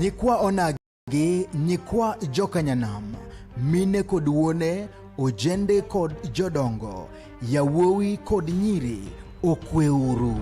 nyikwa onagi nyikwa jokanyanam mine kod wuone ojende kod jodongo yawuowi kod nyiri okweuru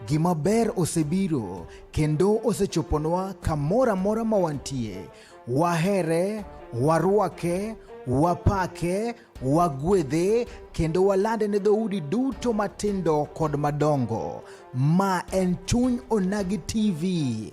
Gima ber osebiro kendo osechoponwa kamoro amora ma wantie. Wahere, warwake, wapake, wagwedhe kendo walande ne dhoudi duto matindo kod madongo. Ma en Chuny Onagi TV.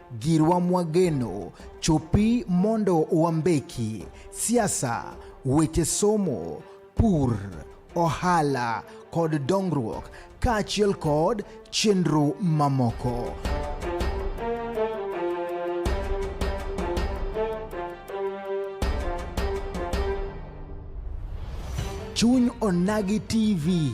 Girwa Mwageno, chopi mondo wambeki, siasa, weche somo, pur, ohala kod dongruok kaachiel kod chenro mamoko. Chuny Onagi TV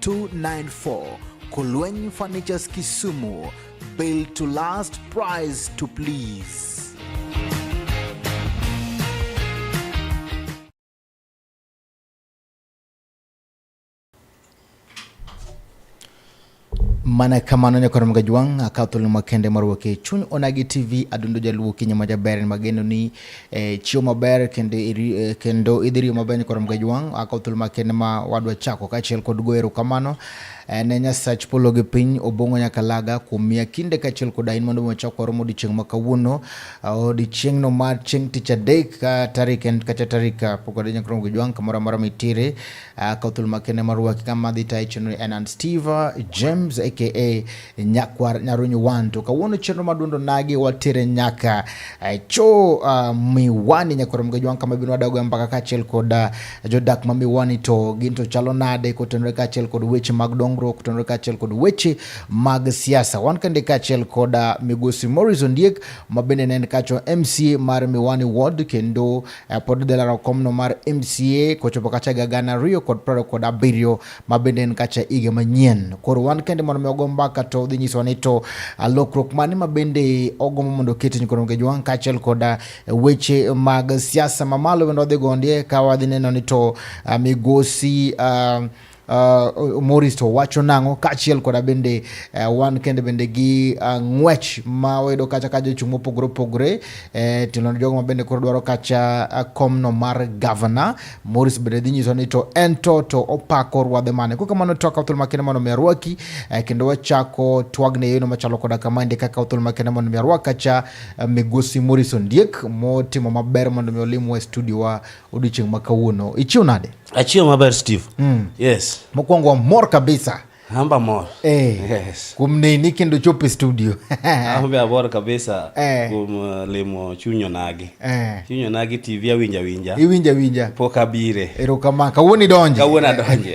294 Kulweny Furnitures Kisumu. Built to last, price to please. mana kamano nyakoro mga jwang' akatho lumakende marwake chuny onagi tv adundo jaluo kinya majaber mageno ni e, chiwo maber kendo e, kendo idhi riyo maber nyikoro mga jwang' ako thuolo makende ma wadwa chako kaachiel kod goyo erokamano e, ne nyasach polo gi piny obong'o nyaka laga kuom miya kinde kaachiel kod ain mondo wachak waromo odiechieng' ma kawuono odiechieng'no mar chieng' tich adek ka tarik en kata tarik pok wadhi nyakoro mga jwang' kamoro amora mitire ako thuolo makende marwaki kama dhi tayo chenro en an steve james aka Nyakwar Nyarunyi One. To kawuono chenro madundo nagi watere nyaka eh, cho uh, Miwani Nyakwar Mgeji One kama bino wadago mpaka kaachiel kod uh, jodak ma Miwani to gin to chalo nade kotenore kaachiel kod weche mag dongruok kotenore kaachiel kod weche mag siasa. Wan kende kaachiel kod uh, Migosi Morris Ondiek ma bende ne en kacho MCA mar Miwani Ward kendo uh, pod delaro komno mar MCA kochopo kacha ga gana ariyo kod prariyo kod abiriyo ma bende en kacha higa manyien. Koro wan kende mondo mi ogomba mbaka to dhi nyiso ni to lokruok mane ma bende ogombo mondo oketni koro ngejo wan kaachiel koda weche mag siasa mamalo bende wadhi gondie ka wadhi neno ni to migosi uh, uh, Morris to wacho nang'o kaachiel koda bende uh, wan kende bende gi uh, ng'wech ma wayudo kacha ka jochung' mopogore opogore uh, eh, tilo jogo ma bende koro dwaro kacha uh, komno mar gavana Morris bende dhi nyiso ni to en to to opako ruadhe mane. Kuka mano toka uthul makene mano mi arwaki eh, kendo wachako twagne yono machalo koda kama ndi kaka uthul makene mano mi arwaka cha eh, migosi Morris Ondiek motimo maber mondo mi olim wa studio wa odiochieng' ma kawuono. Ichiw nade? Achiw maber Steve. Mm. Yes. Mokwongo mor kabisa. Hamba mor. Eh. Yes. Kuom neni kendo chop e studio. Ahombe abor kabisa eh. kuom uh, limo chunyo nagi. Eh. Chunyo nagi TV awinja winja. Iwinja winja. Pok abire. Ero kama kawuono idonje. Kawuono adonje.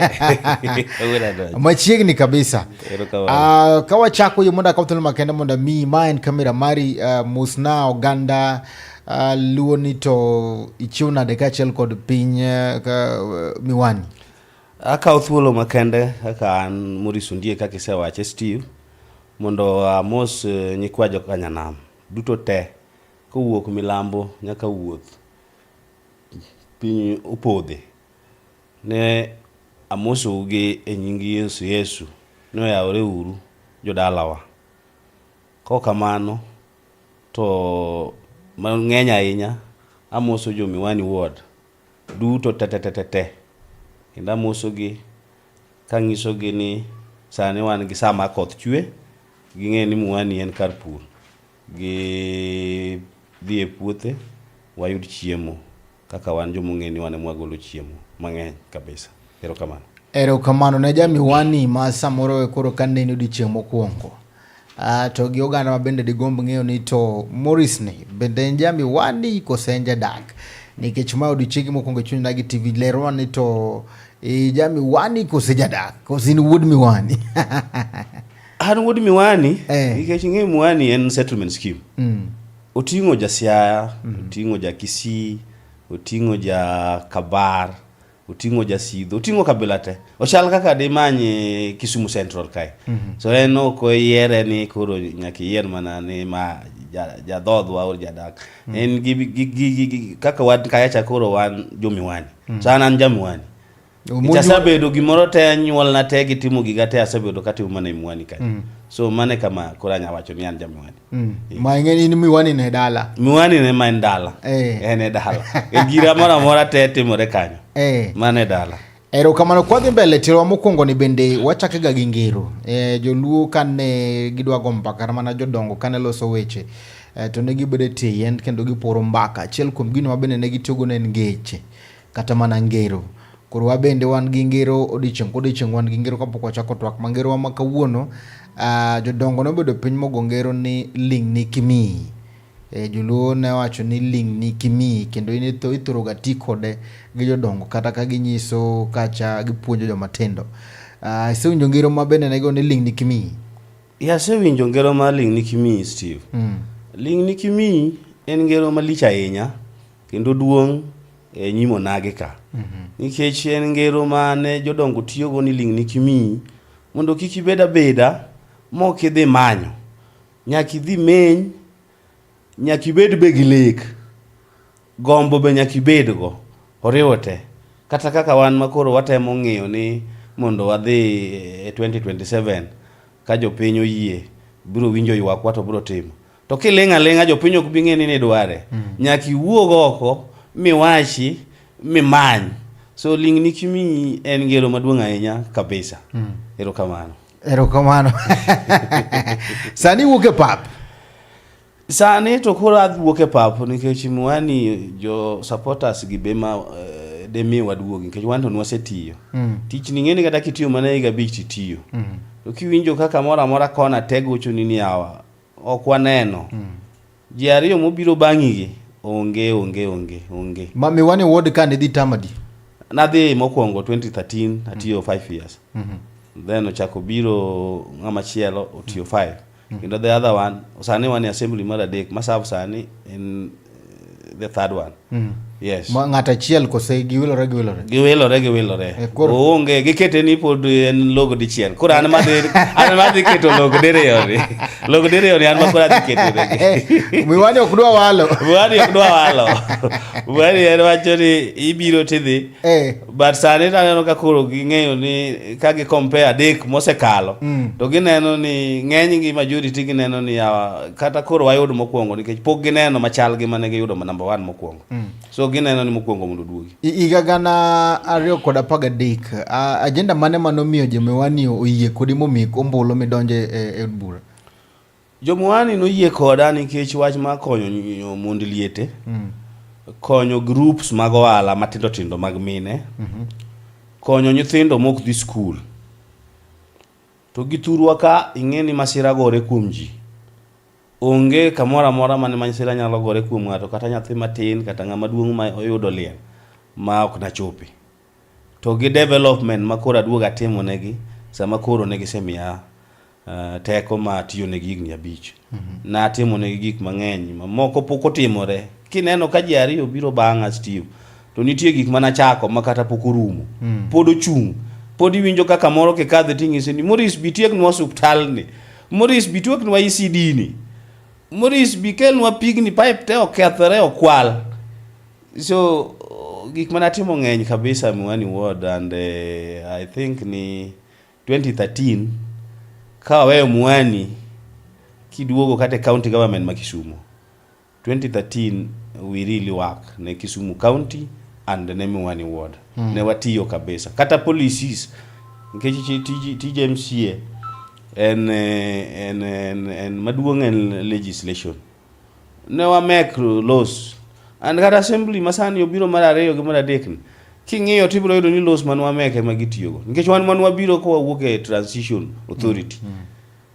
Kawuono adonje. Machiegni kabisa. Ero kawuono. Ah, uh, kawa chako yo mondo akaw thuolo makende mondo mi ma en kamera mari uh, ah, musna oganda uh, luoni to ichiw nade kaachiel kod piny uh, miwani. Akawo thuolo makende kaka an Maurice Ondie kaka isewache Steve mondo amos eh, nyikwa jokanyanam duto te kowuok milambo nyaka wuoth piny opodhe ne amosou gi e nying Yesu Yesu ni oyawore uru jodalawa. Kaok kamano to mang'eny ahinya amoso jo Miwani Ward duto tetetetete kendo amosogi kang'isogi ni sani wan gi sama koth chwe ging'e ni muani en kar pur gi dhi e puothe wayud chiemo kaka wan joma ong'e ni wan ema wagolo chiemo mang'eny kabisa erokamano erokamano ne jamiwani ma samoro koro ka neni odiochieng' mokwongo Uh, to gi oganda ma bende digomb ng'eyo ni to Morris ni bende en jami wani kose en jadak nikech ma odiochienge mokwongo e chuny na gi TV lerwa ni to e, jami wani kose jadak kose in wuod miwani an wuod miwani eh. nikech ng'e miwani en settlement scheme mm. oting'o jasiaya mm. oting'o jakisii oting'o jakabar oting'o jasidho oting'o kabila te ochal kaka dimany eh, Kisumu Central kae mm -hmm. so en ok oyiere ni koro nyaka iyier mana ni ma jadhodhwa or jadak mm -hmm. en gi, gi, gi, gi, gi, kaka wan kayacha koro wan jomiwani mm -hmm. so an an jamiwani asebedo gimoro te anyuolna te gitimo giga te asebedo katimo mana e miwani kae mm -hmm. so mane kama koro anya wacho ni an jamiwani Mm. ma ing'e in miwani ne dala miwani ne ma en dala eh. en e dala e gira moro amora te timore kanyo eh. mano e dala erokamano kwadhi mbele tirowa mokwongo ni bende wachake ga gi ngero e, joluo kane gidwa go mbaka mana jodongo kane loso weche e, to ne gibedo e tie yien kendo giporo mbaka achiel kuom gino ma bende ne gitiyogo ne en ngeche Kata mana ngero. Koro wabende wan gi ngero odiechieng' kodiechieng' wan gi ngero kapok wachako twak ma ngerowa ma kawuono. Uh, jodongo nobedo piny mogo ngero ni ling' ni kimiyi. E, eh, joluo ne wacho ni ling' ni kimiyi kendo in ithoroga ti kode gi jodongo kata ka ginyiso kacha gipuonjo joma tindo. Uh, ah, isewinjo ngero ma bende nego ni ling' ni kimiyi? Ya, asewinjo ngero ma ling' ni kimiyi Steve. Mm. Ling' ni kimiyi en ngero malich ahinya Kendo duong' e nyim onagi ka. Mhm. Nikech en ngero ma ne jodongo tiyogo ni ling'ni kimiyi mondo kik ibed abeda mok idhi manyo. Nyaka idhi meny, nyaka ibed be gi lek, gombo be nyaka ibedgo, oriwo te. Kata kaka wan ma koro watemo ng'iyo ni mondo wadhi e 2027 ka jopiny oyie biro winjo ywakwa to biro timo. To kiling' aling'a jopiny ok bi ng'e ni nidware. Mm. Nyaka iwuog oko miwachi mimany. So ling' ni kimiyi en ngero maduong' ahinya kabisa. Mm. Erokamano. Erokamano. Sani wuok e pap. Sani to koro adwuok e pap nikech mwani jo supporters gi be ma eh, de mi waduogi nikech wan to nwasetiyo mm. tich ni ng'eni kata kitiyo mana higa abich titiyo mm. to kiwinjo kaka moro amora kona tego chuni ni awa Ok waneno. Mm. Ji ariyo mobiro bang'igi onge onge onge onge. Ma miwani ward ka ne dhi tamadi? Nadhi mokwongo 2013 mm. atiyo 5 mm. years. Mm -hmm. Then ochako biro ng'ama chielo otiyo 5. Mm. mm. Kendo the other one sani wan e assembly mar adek ma serve sani en the third one mm. yes Ma ng'at achiel kose giwilore giwilore giwilore giwilore eh, onge gikete ni pod en logo dichiel koro an ma an ma dhi keto logo diriyo ni logo diriyo ni an ma koro adhi keto ni miwani ok dwa walo miwani ok dwa walo miwani en wacho ni ibiro tidhi eh. but sani taneno ka koro ging'eyo ni ka gi compare adek mosekalo mm. to gineno ni ng'eny gi majority gineno ni uh, kata koro wayud mokwongo nikech pok gineno machal gi mane giyudo number one mokwongo mm. so gineno ni mokwongo mondo duogi higa gana ariyo kod apar gadek uh, ajenda mane manomiyo jomewani oyie kodi momik ombulu midonje e od bura Jomuani noyie koda nikech wach mar konyo mond liete, mm. konyo groups mag ohala matindo tindo mag mine, mm -hmm. konyo nyithindo mok dhi skul. To gi thurwa ka ing'e ni masira gore kuom ji. Onge kamoro amora mane masira nyalo gore kuom ng'ato kata nyathi matin kata ng'ama duong' ma oyudo liel ma ok nachopi. To gi development ma koro aduoga timo negi sama koro ne gisemiya uh, teko ma atiyonegi higni abich mm -hmm. natimonegi gik mang'eny mamoko pok otimore kineno ka ji ariyo biro bang'a steve to nitie gik mana chako ma kata pok orumo mm. pod ochung' pod iwinjo ka kamoro kikadhe ting'ise ni moris bitieknwa suptalni moris bitieknwa isidini e moris bikelnwa pigni pipe te okethore okwal so gik mana timo ng'eny kabisa miwani ward and uh, i think ni 2013 ka waweyo Mwani kiduogo kata county government ma Kisumu 2013 we really work ne Kisumu county and ne Mwani ward mm. ne watiyo kabisa kata policies nikech tij MCA en, en, en, en maduong' en legislation ne wamek los and kata assembly masani obiro mar ariyo gi mar adek ni king'iyo to ibiro yudo ni los man wamek ema gitiyogo nikech wan man wabiro ka wawuok e transition authority mm. Mm.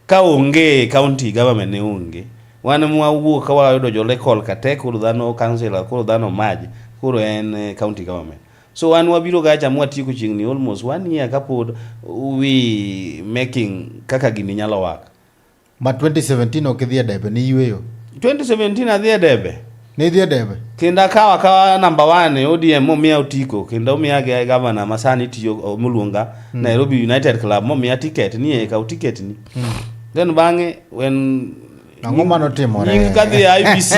ka onge county government ne onge wan mwawuok ka wayudo jo local kate koro dhano councilor koro dhano maj koro en eh, county government so wan wabiro ga cha mwatieko chieng'ni almost one year kapod we making kaka gini nyalo waka Ma 2017 ok idhi e debe, ni yweyo. 2017 adhi e debe. Ni idhi e debe. Kendo akawo akawa namba 1 e ODM momiya otiko kendo omiya gi gavana ma sani tiyo moluonga mm. Nairobi United Club momiya tiket ni e kaw tiket ni. Mm. Then bang'e when Ang'o ma notimore? Nying kadhi IBC.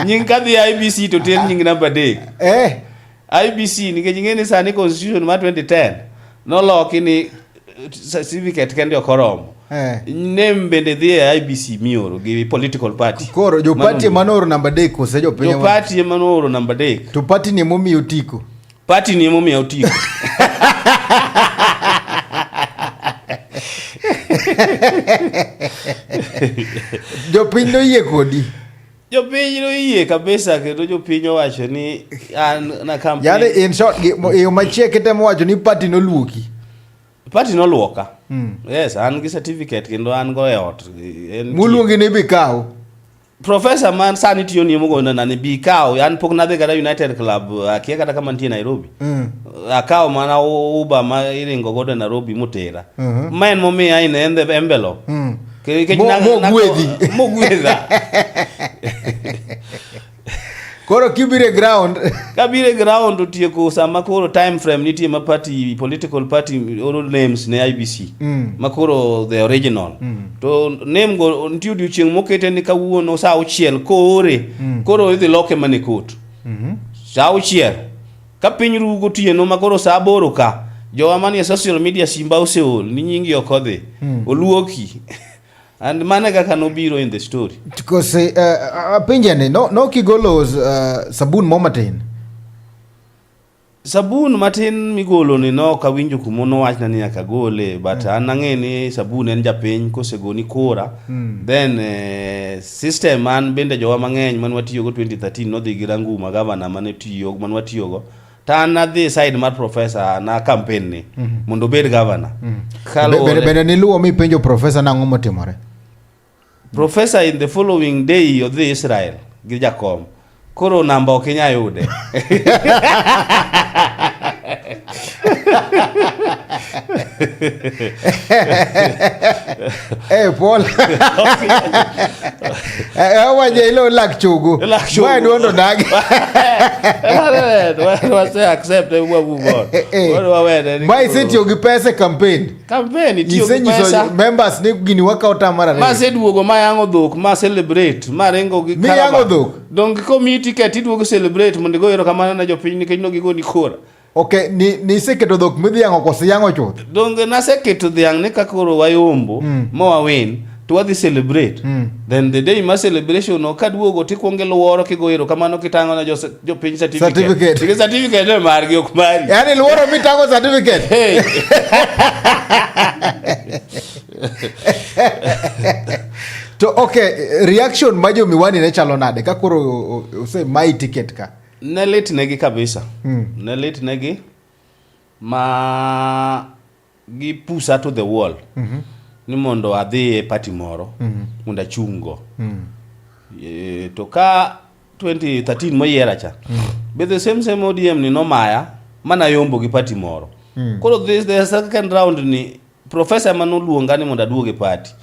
nying kadhi IBC to ter nying namba 3. Eh. IBC nikech ing'e ni sani constitution ma 2010 noloki ni eh, certificate kende ok oromo Eh. name bende dhi e IBC mioro gi political party Koro jo party Mano- manooro namba adek kose jo piny jo party ema nooro namba adek to party ni emomiyo otiko. party ni emomiyo otiko Jopiny noyie kodi. jopiny noyie kabisa kendo jopiny owacho ni an na campaign yani in short yo machie kitemo wacho ni party noluoki party noluoka mm. yes an gi certificate kendo an go e ot muluongi ni bikaw professor man sani tiyo ni mugo na ni bikaw an pok nadhi kata united club akia kata kama nitie nairobi mm. akaw mana uba ma iringo godo nairobi mutera mm -hmm. ma en momiya in the envelope mm. mogwedhi mogwedha koro kibire ground kabire ground otieko sama koro time frame nitie ma party political party oro names ne IBC mm. ma koro the original mm. to name go nitie odiochieng' mokete ni kawuono saa auchiel koore mm. koro idhi loke mana e court mm -hmm. saa auchiel Ka piny ru gotieno ma koro saa aboro ka, jowa manie social media simba oseol ni nyingi ok odhi. Oluoki. And mane kaka nobiro in the story. Because eh, ah, apenja ni no no kigolo eh, sabun mo matin. Sabun matin migolo ni no ok awinjo kuma nowachna ni nyaka gole but an ang'e ni sabun en japiny kosegoni kora then eh, System man bende jowa mang'eny man watiyogo 2013 nodhi gi Ranguma gavana mane tiyo man watiyogo to an adhi side mar profesa na campaign ni mm -hmm. mondo obed gavana mm -hmm. bende niluwo mi penjo profesa nang'o motimore profesa in the following day odhi Israel gi jakom Koro namba ok inya yude. Eh, Paul. Eh, waje ilo lak chugu. Lak chugu. Mwa duondo dagi. Wase accept e mwa move on. Eh, eh. Wadu wawene. ni Mwa koro- isitiyo gi pesa e campaign. Kampen itiyo gi Isenyiso pesa. members ni gini wakawo ta mar ariyo. Maseduogo mayango dhok, ma celebrate, maringo gi Miyango caravan. dhok? Donge komiyi ticket iduogo celebrate mondo igo erokamano ne jopiny nikech nogigoni kura. Okay, ni ni iseketo dhok midhi yang'o kose yang'o chuth? Donge naseketo dhiang' ni ka koro wayombo ma wawin to wadhi celebrate mm. then the day ma celebration no kaduogo to ikwongo iluoro kigo erokamano kitang'o ne jopiny certificate certificate ne margi ok mari yani luoro mitang'o certificate hey. to okay reaction ma jo miwani ne chalo nade ka koro ose mai ticket ka ne litnegi kabisa mm. ne litnegi ma gi pusa to the wall mm -hmm. ni mondo adhi e pati moro mm -hmm. mondo achung' go mm -hmm. e, to ka 2013 moyiera cha mm -hmm. be the same same ODM ni nomaya mana yombo gi pati moro mm -hmm. koro this the second round ni professor manoluonga ni mondo aduog e pati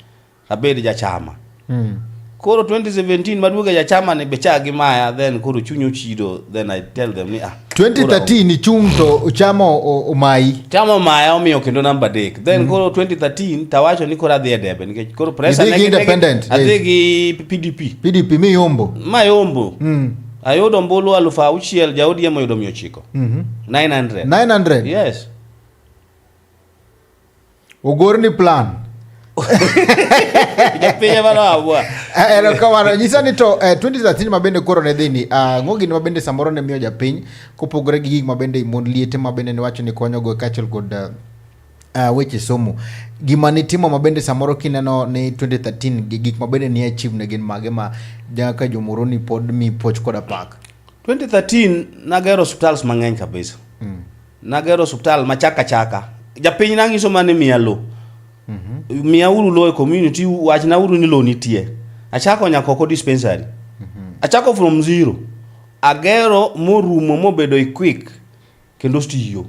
Abed jachama. Mm. Koro 2017 maduoga jachama ni becha gi maya then koro chunyo chido then I tell them ni ah. 2013 ni chung to chama omayi. Chama omaya omiyo kendo namba dek. Then mm. koro 2013 tawacho ni koro adhi e debe nikech koro pressure ne. Adhi gi independent. Adhi gi PDP. PDP mi yombo. Ma yombo. Mm. Ayudo mbulu alufu auchiel ja ODM oyudo mia ochiko. Mm -hmm. 900. 900. Yes. ogorni plan pinye mano awua erokamano nyisa ni to eh, 2013 ma bende koro ne dhi ni ah, ng'o gini ma bende samoro ne miyo japiny kopogore gi gik ma bende mon liete ma bende niwacho ni konyogo kaachiel kod ah, ah, weche somo gima nitimo ma bende samoro kineno ni 2013 gi gik ma bende ni achieve ne gin mage ma jaka jomoroni pod mi poch koda pak 2013 nagero hospitals mang'eny kabisa Nagero osuptal ma chaka chaka. Japiny nang'iso ma ni miya lo. Mhm. Miya uru lo e community, wachna uru ni lo nitie. Achako Nyakoko dispensary. Mhm. Achako from zero. Agero morumo mobedo equick kendo ostiyo.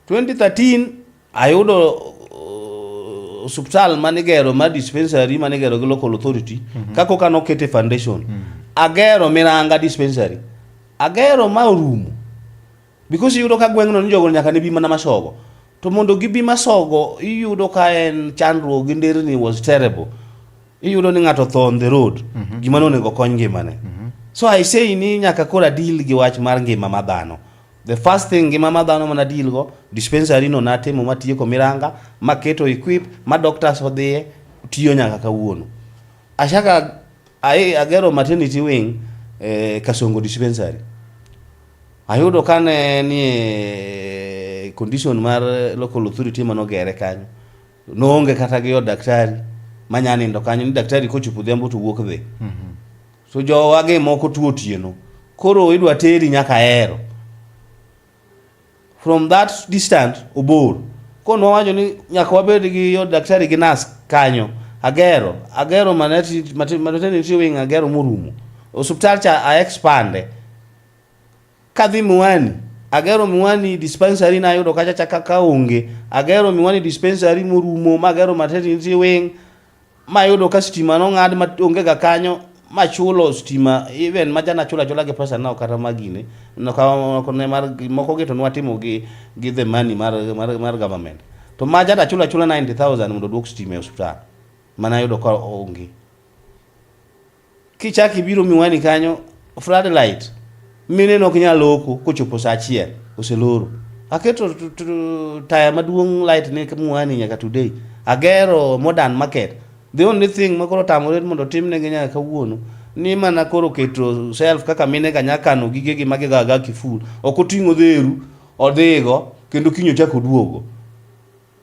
2013 Ayudo uh, osuptal mane igero mar dispensary mane igero gi local authority mm -hmm. kako kano kete foundation mm -hmm. agero miranga dispensary agero ma orumo because iyudo ka gweng'no ni jogo nyaka ne bi mana masogo to mondo gibi masogo iyudo ka en chandruok gi nderni was terrible iyudo ni ng'ato tho on the road mm -hmm. gima nonego kony ngimane mm -hmm. so i say ni nyaka kora deal gi wach mar ngima ma dhano The first thing ngima ma dhano mana deal go dispensary no natimo matieko miranga maketo equip ma doctors odhiye tiyo nyaka kawuono. Ashaka ai agero maternity wing eh, Kasongo dispensary. Ayudo kane nie condition mar local authority manogere kanyo. Noonge kata gi od daktari manyanindo kanyo ni daktari kochopo odhiambo to wuok dhi. Mm -hmm. So jowa gi moko tuo otieno. Koro idwa teri nyaka Ahero. From that distance obor. Kono wacho ni nyaka wabed gi yo daktari gi nas kanyo. Agero, agero manati maternity wing agero morumo. Osuptal cha a expande. Kadhi Miwani, agero Miwani dispensary na ayudo kacha chaka ka onge. Agero Miwani dispensary morumo, magero maternity wing, mayudo ka stima nong'ad ma onge ga kanyo machulo stima even maja nachulo achula gi pesa nao kata magine ne mar moko gi to nwatimo gi gi the money mar mar, mar government to maja nachulo achula 90000 mondo duok stima e hospital mana yudo ka onge Kichak ibiro miwani kanyo floodlight mine nok nyal loko kochopo saa achiel oseloro. Aketo t- t- taya maduong' light ne miwani nyaka today. Agero modern market. The only thing ma koro tamore mondo timnegi nyaka kawuono ni mana koro keto self kaka mine ka nyaka kano gigegi ma gigaga kiful. Ok oting'o dheru odhigo kendo kiny ochak oduogo.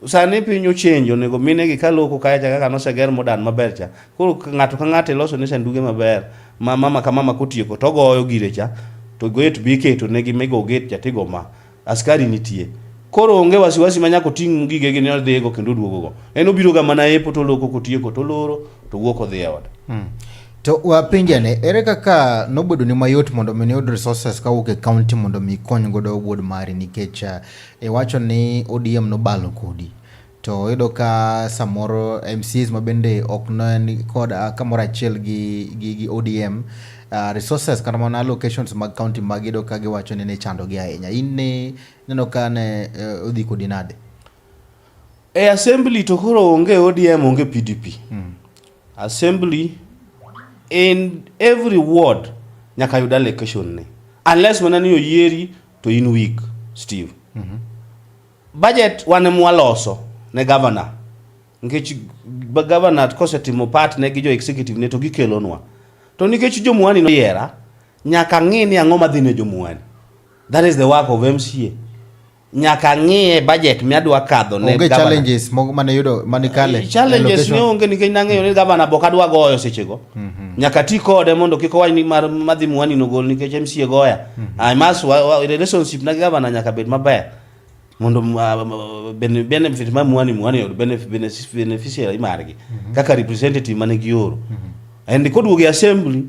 Sani piny ochenjo, onego mine gi kaloko kae cha kaka noseger modan maber cha. Koro ng'ato ka ng'ato iloso ne sanduge maber ma mama ka mama kotieko to ogoyo gire cha to gate be iketo negi migo gate cha tigo ma askari nitie. Koro onge wasiwasi ma nyaka oting' gige gi ni odhigo kendo oduogo go. En obiro ga mana epo to oloko kotieko to oloro to wuok odhi e ode. Hmm. To wapenjane, ere kaka nobedo ni mayot mondo mi iyud resources kawuok e county mondo mi ikony godo wuod mari nikech uh, Iwacho ni ODM nobalo kodi to iyudo ka samoro MCs ma bende ok ne kod kamoro achiel gi, gi, gi ODM uh, resources kata mana locations mag county mag iyudo ka giwacho ni ne chandogi ahinya. In ne neno ka ne uh, odhi kodi nade? E assembly to koro onge ODM onge PDP. Mm. Assembly in every ward nyaka yud allocation ne unless mana ni oyieri to in weak still. Mm -hmm. Budget wane mwaloso ne governor nikech governor kosetimo part ne gi jo executive ne to gikelonwa to nikech jomuani noyiera nyaka ng'i ni ang'o madhi ne jomuani that is the work of MCA nyaka ng'iye budget miadwa kadho ne onge challenges mogo mane yudo mane kale eh, challenges ne onge nikech nang'eyo ni gavana bok adwa goyo sechego mm -hmm. nyaka ti kode mondo kik owach ni madhi muani nogol nikech MCA goya I must wa- wa- relationship na gavana nyaka bed maber mondo m- ah, m- bene- benefit ma mwani mwani oyud benef- benefis- beneficiary margi kaka representative mane gioro and koduogo e assembly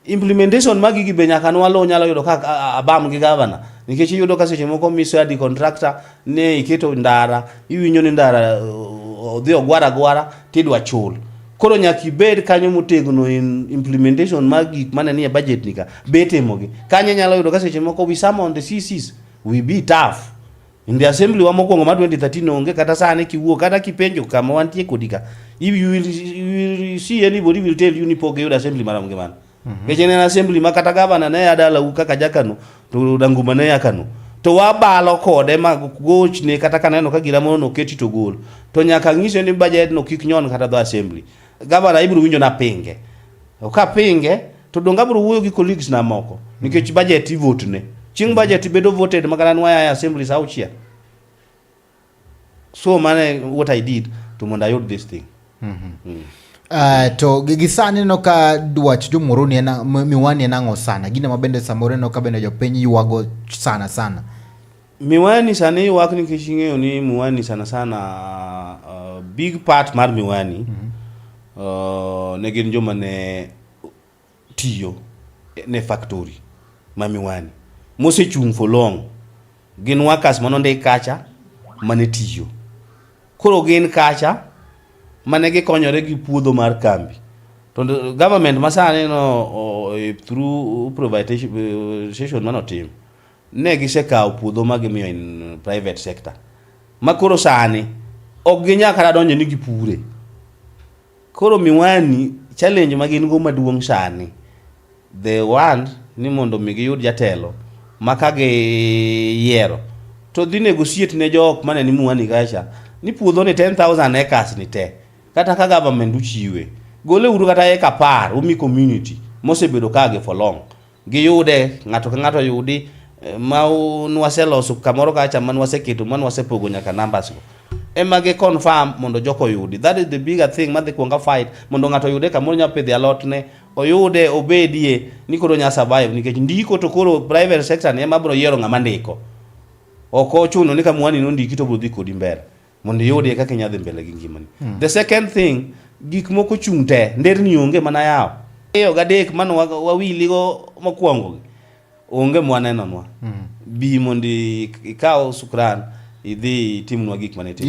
implementation magi gi be nyaka nwalo nyalo yudo ka a- a- abam gi gavana nikech iyudo ka seche moko miso adi contractor ni iketo ndara iwinjo ni ndara uh, odhi ogwara gwara tidwa chul koro nyaka ibed kanyo motegno in implementation mar gik mane nie budget ni ka be itimogi kanyo inyalo yudo ka seche moko we some on the CCs we be tough in the assembly wa mokwongo ma 2013 onge kata sani kiwuo kata kipenjo kama wantie kodi ka if you will, you will see anybody will tell you ni pok giyudo assembly marom gi mano Mhm. Keche ne assembly ma kata gavana ne adala u kaka jakano to danguma ne yakano. To wabalo kode ma goch ne kata kaneno ka gira mono keti to gol. To nyaka ng'ise ni budget no kik nyon kata do assembly. Gavana ibro winjo na pinge. To ka pinge to donge abro wuoyo gi colleagues na moko nikech budget i vote ne. Chieng' budget bedo voted ma kata nwa ya assembly sa auchiel. so mane what i did to mondo ayud this thing mm -hmm. mm. Uh, to gi sani neno ka dwach jomoroni en miwani en ang'o sana gine ma bende samoro neno ka bende jopiny ywago sana sana miwani sani ywak nikech ing'eyo ni miwani sana sana uh, big part mar miwani mm -hmm. uh, ne gin joma ne tiyo ne factory ma Miwani mosechung' for long. Gin workers mane ondik kacha mane tiyo. Koro gin kacha mane gikonyore gi puodho mar kambi. To government masani no e, through privatization mane otim ne gisekawo puodho ma gimiyo in private sector. Ma koro sani ok ginyal kata donjo ni gipure. Koro miwani challenge ma gin go maduong' sani they want ni mondo mi giyud jatelo ma ka giyiero to dhi negotiate ne jok mane ni Miwani kacha ni puodho ni 10000 acres ni te kata ka government uchiwe gole uru kata eka par umi community mosebedo kage for long Giyude, ng'ato ka ng'ato oyudi eh, ma u- nwaseloso kamoro kacha ma nwaseketo ma nwasepogo nyaka numbers go. Ema gi confirm mondo joko oyudi. That is the bigger thing madhi kuonga fight mondo ng'ato oyude kamoro nya pidhi alot ne oyude obedie ni koro nya survive nikech ndiko to koro private sector ni ema bro yiero ng'ama ndiko. Ok ochuno ni ka mwani nondiki to bro dhi kodi mbele. mondo iyudie kaka inyalo dhi mbele gi ngimani hmm. the second thing gik moko chung' te nderni onge mana yawo eyo gadek mane wawiligo mokwongogi onge mwanenonwa hmm. bi mondo ikaw sukran idhi itimnwa gik mane itimo